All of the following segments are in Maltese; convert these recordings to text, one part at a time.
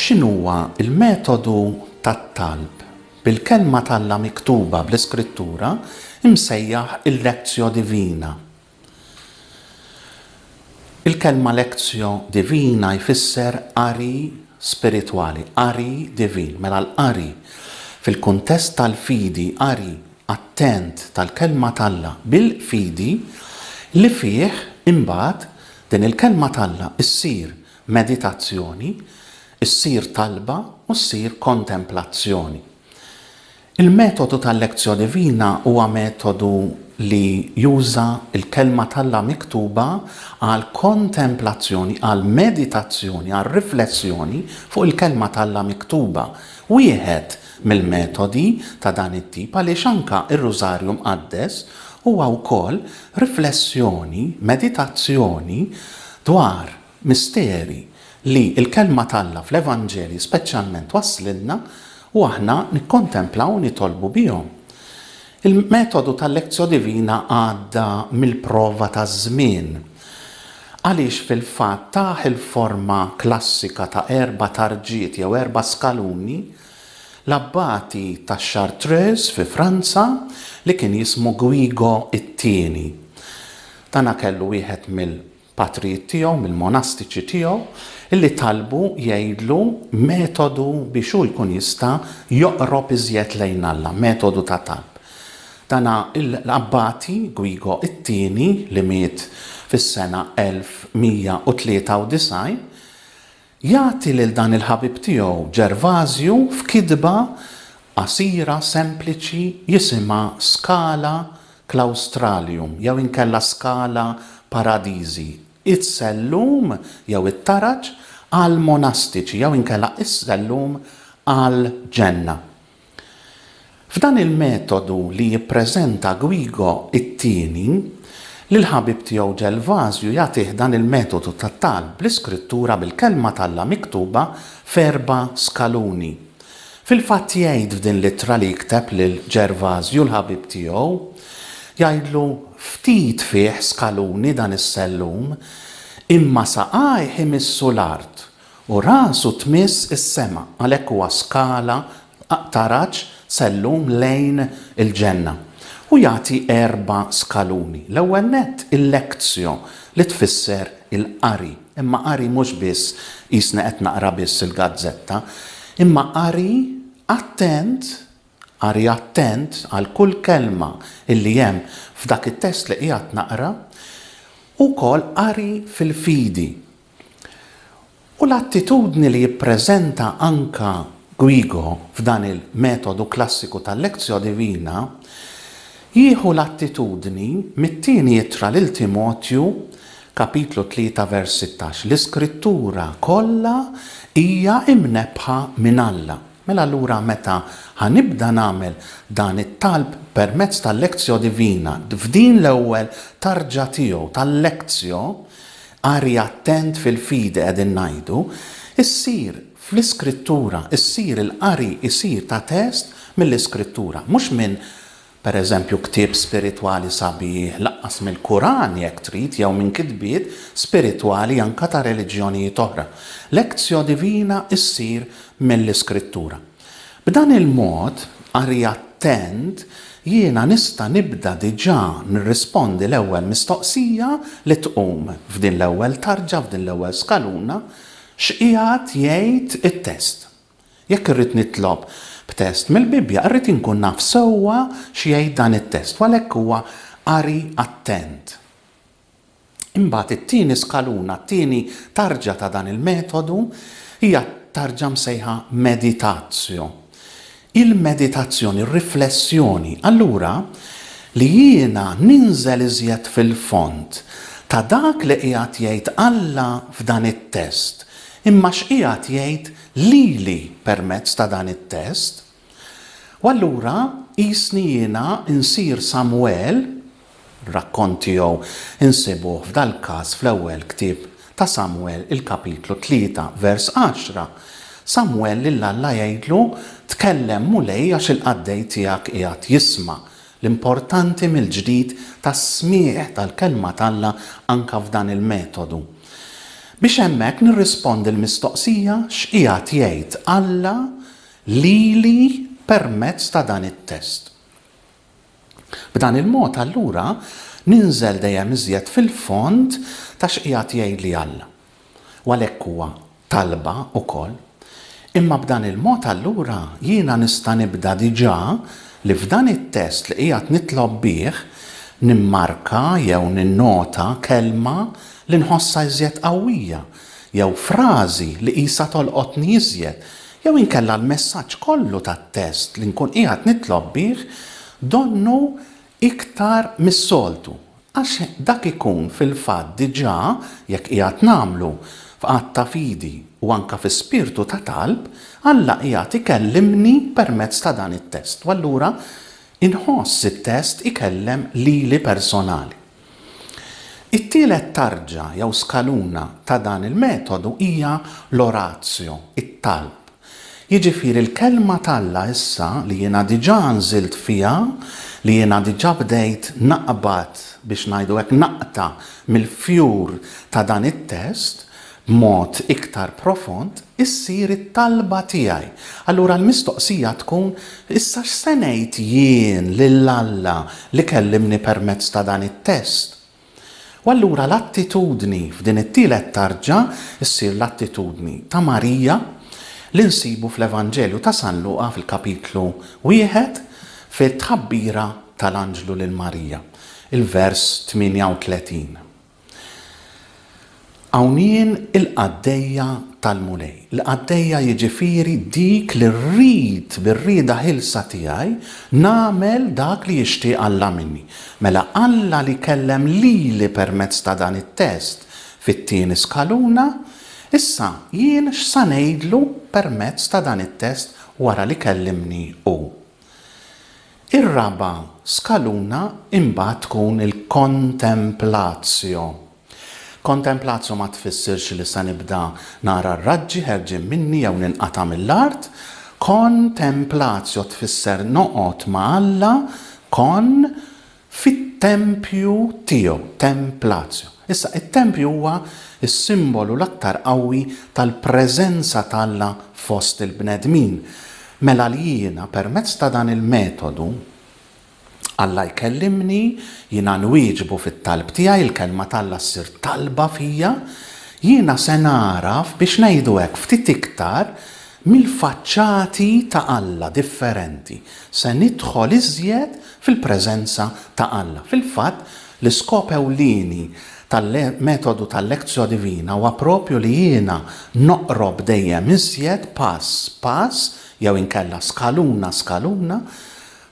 X'inhuwa l-metodu tat-talb bil-Kelma t'Alla miktuba bl-Iskrittura msejjaħ il-Lectio Divina? Il-kelma lectio divina jfisser qari spiritwali, qari divin. Mela l-qari fil-kuntest tal-fidi, qari attent tal-Kelma t'Alla bil-fidi li fih imbagħad din il-Kelma t'Alla ssir meditazzjoni, ssir talba u ssir kontemplazzjoni. Il-metodu tal-Lectio Divina huwa metodu li juża l-Kelma t'Alla miktuba għall-kontemplazzjoni, għall-meditazzjoni, għar-riflessjoni fuq il-Kelma t'Alla miktuba. Wieħed mill-metodi ta' dan it-tip għaliex anke r-Rużarju Mqaddes huwa wkoll riflessjoni, meditazzjoni dwar Misteri li l-Kelma t'Alla fl-Evanġelji speċjalment twasslilna u aħna nikkontemplaw u nitolbu bihom. Il-metodu tal-Lectio Divina għadda mill-prova taż-żmien. Għaliex fil-fatt tah il-forma klassika ta' erba' tarġiet jew erba' skaluni, l-Abbati ta' Chartreuse fi Franza li kien jismu Guigo t-Tieni. Dana kellu wieħed mill. patrijiet tiegħu, mill-monastiċi tiegħu, li talbu jgħidlu metodu biex hu jkun jista' joqrob iżjed lejn Alla, metodu ta' talb. Dan l-abbati, Guigo t-Tieni, li miet fis-sena 1193, Jagħti lil dan il-ħabib tiegħu Ġervażju f'kitba qasira sempliċi jisimha Scala Claustralium jew inkella Scala Paradisi, Is-Sellum jew it-Taraġ għall-Monastiċi jew inkella Is-Sellum għall-Ġenna. F'dan il-metodu li jippreżenta Guigo it-Tieni, lill-ħabib tiegħu Ġelvazju jagħtih dan il-metodu ta' talb bl-iskrittura bil-Kelma t'Alla miktuba f'erba' skaluni. Fil-fatt jgħid f'din l-ittra li jikteb lil Ġervazju l-ħabib tiegħu, jgħidlu ftit fih skaluni dan is-sellum, imma saqajh imissu l-art U rasu tmiss is-sema, għalhekk huwa skala taraġ s'għallum lejn il-ġenna. U jagħti erba' skaluni. L-ewwel nett il-lectio li tfisser il-qari, imma qari mhux biss qisni qed naqra biss il-gazzetta, imma qari attent, qari attent għal kull kelma illi hemm f'dak it-test li qiegħed naqra, u wkoll qari fil-fidi. U l-attitudni li jippreżenta anke Guigo f'dan il-metodu klassiku tal-Lectio Divina jieħu l-attitudni mit-Tieni Ittra lil Timotju, kapitlu 3 vers 16, L-Iskrittura kollha hija imnebbħa minn Alla. Mela allura meta ħa nibda nagħmel dan it-talb permezz tal-Lectio Divina, f'din l-ewwel tarġa tiegħu tal-Lectio, Qari attent fil-fidi qegħdin ngħidu, issir fl-Iskrittura, issir il-qari jsir ta' test mill-Iskrittura, mhux minn, per eżempju, ktieb spiritwali sabiħ, lanqas mill-Kuran jekk trid jew minn kitbiet spiritwali anke ta' reliġjonijiet oħra. Lectio divina ssir mill-Iskrittura. B'dan il-mod, qari attent, jiena nista' nibda diġà nirrispondi l-ewwel mistoqsija li tqum f'din l-ewwel tarġa, f'din l-ewwel skaluna, X'qiegħed jgħid it-test? Jekk irrid nitlob b'test mill-Bibbja, irrid inkun naf sewwa x'jgħid dan it-test, u għalhekk huwa qari attent. Imbagħad it-tieni skaluna, t-tieni tarġa ta' dan il-metodu hija t-tarġa msejħa meditatio. Il-meditazzjoni, r-riflessjoni, allura li jiena ninżel iżjed fil-fond ta' dak li qiegħed jgħid Alla f'dan it-test, imma x'qiegħed jgħid lili permezz ta' dan it-test. U allura qisni jiena nsir Samwel, rakkont tiegħu nsibuh f'dal-każ fl-ewwel ktieb ta' Samwel, il-kapitlu tlieta, vers għaxra, Samwel lil Alla jgħidlu, Tkellem, Mulej, għax il-qaddej tiegħek qiegħed jisma'. L-importanti mill-ġdid tas-smigħ tal-kelma t'Alla anke f'dan il-metodu. Biex hemmhekk nirrispondi l-mistoqsija, x'qiegħed jgħid Alla lili permezz ta' dan it-test. B'dan il-mod allura ninżel dejjem iżjed fil-fond ta' x'qiegħed jgħidli Alla. U għalhekk huwa talba wkoll. Imma b'dan il-mod allura jiena nista' nibda diġà li f'dan it-test li qiegħed nitlob bih nimmarka jew ninnota kelma li nħossha iżjed qawwija jew frażi li qisha tolqotni iżjed Jew inkella l-messaġġ kollu tat-test li nkun qiegħed nitlob bih donnu iktar mis-soltu, għax dak ikun fil-fatt diġà, jekk qiegħed nagħmlu f'att ta' fidi u anke fi spirtu ta' talb, Alla qiegħed ikellimni permezz ta' dan it-test u allura inħoss it-test ikellem lili personali. It-tielet tarġa jew skaluna ta' dan il-metodu hija l-oratio, it-talb. Jiġifieri l-Kelma t'Alla issa li jiena diġà nżilt fiha, li jiena diġà bdejt naqbad, biex ngħidu hekk naqta' mill-fjur ta' dan it-test, b'mod iktar profond, issir it-talba tiegħi. Allura l-mistoqsija tkun, Issa x'se ngħid jien lil Alla li kellimni permezz ta' dan it-test? U allura l-attitudni f'din it-tielet tarġa ssir l-attitudni ta' Marija li nsibu fl-Evanġelju ta' San Luqa fil-kapitlu wieħed fit-tħabbira tal-anġlu lil Marija, il-vers 38. Hawn jien il-qaddejja tal-Mulej. Il-qaddejja jiġifieri dik li rrid bir-rieda ħielsa tiegħi nagħmel dak li jixtieq Alla minni. Mela Alla li kellem lili permezz ta' dan it-test fit-tieni skaluna, issa jien x'sa ngħidlu permezz ta' dan it-test wara li kellimni hu? Ir-raba' skaluna imbagħad tkun il-kontemplatio. Kontemplatio ma tfissirx li se nibda nara r-raġġi ħerġin minni jew ninqata' mill-art. Kontemplatio tfisser noqgħod ma' Alla, kon, fit-tempju tiegħu, templatio. Issa, it-tempju huwa s-simbolu l-aktar qawwi tal-preżenza t'Alla fost il-bnedmin. Mela li jiena permezz ta' dan il-metodu, Alla jkellimni, jiena nwieġbu fit-talb tiegħi, il-Kelma t'Alla ssir talba fija, jiena se nagħraf, biex ngħidu hekk, ftit iktar mill-faċċati ta' Alla differenti, se nidħol iżjed fil-preżenza ta' Alla. Fil-fatt, L-iskop ewlieni tal-metodu tal-lectio divina huwa proprju li jiena noqrob dejjem iżjed pass pass, jew inkella skaluna skaluna,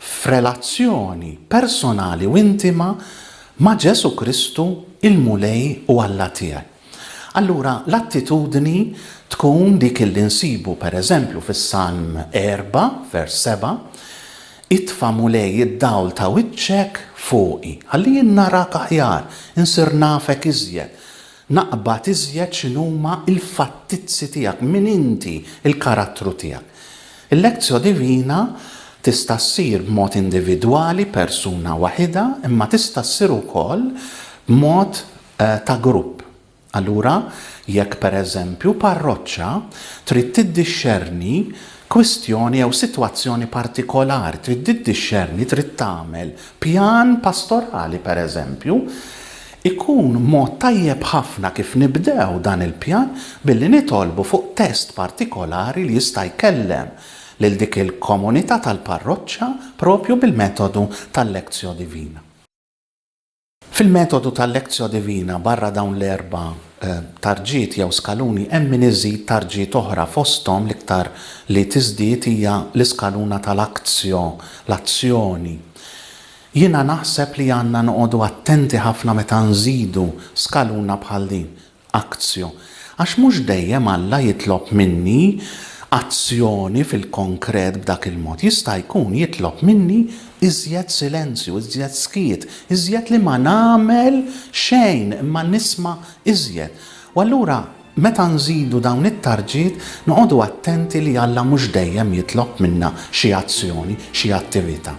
f'relazzjoni personali u intima ma' Ġesù Kristu, il-Mulej u Alla tiegħi. Allura, l-attitudni tkun dik li nsibu, per eżempju, fis-Salm 4, vers 7, Itfa' Mulej id-dawl ta' wiċċek fuqi, ħalli jien narak aħjar, insir nafek iżjed, naqbad iżjed x'inhuma l-fattizzi tiegħek, min inti, il-karattru tiegħek. Il-Lectio Divina tista' ssir b'mod individwali, persuna waħidha, imma tista' ssir ukoll b'mod ta' grupp. Allura, jekk pereżempju parroċċa trid tiddixxerni kwistjoni jew sitwazzjoni partikolari, trid tiddixxerni, trid tagħmel pjan pastorali pereżempju, ikun mod tajjeb ħafna kif nibdew dan il-pjan billi nitolbu fuq test partikolari li jista' jkellem lil dik il-komunità tal-parroċċa proprju bil-metodu tal-Lectio Divina. Fil-metodu tal-lectio divina barra dawn l-erba' tarġiet jew skaluni hemm min iżid tarġiet oħra fosthom l-iktar li tiżdied hija l-iskaluna tal-actio, l-azzjoni. Jiena naħseb li għandna noqogħdu attenti ħafna meta nżidu skaluna bħal din Aktio, Għax mhux dejjem Alla jitlob minni azzjoni fil-konkret b'dak il-mod. Jista' jkun jitlob minni iżjed silenzju, iżjed skiet, iżjed li ma nagħmel xejn imma nisma' iżjed. U allura meta nżidu dawn it-tarġiet noqogħdu attenti li Alla mhux dejjem jitlob minna xi azzjoni, xi attivita'.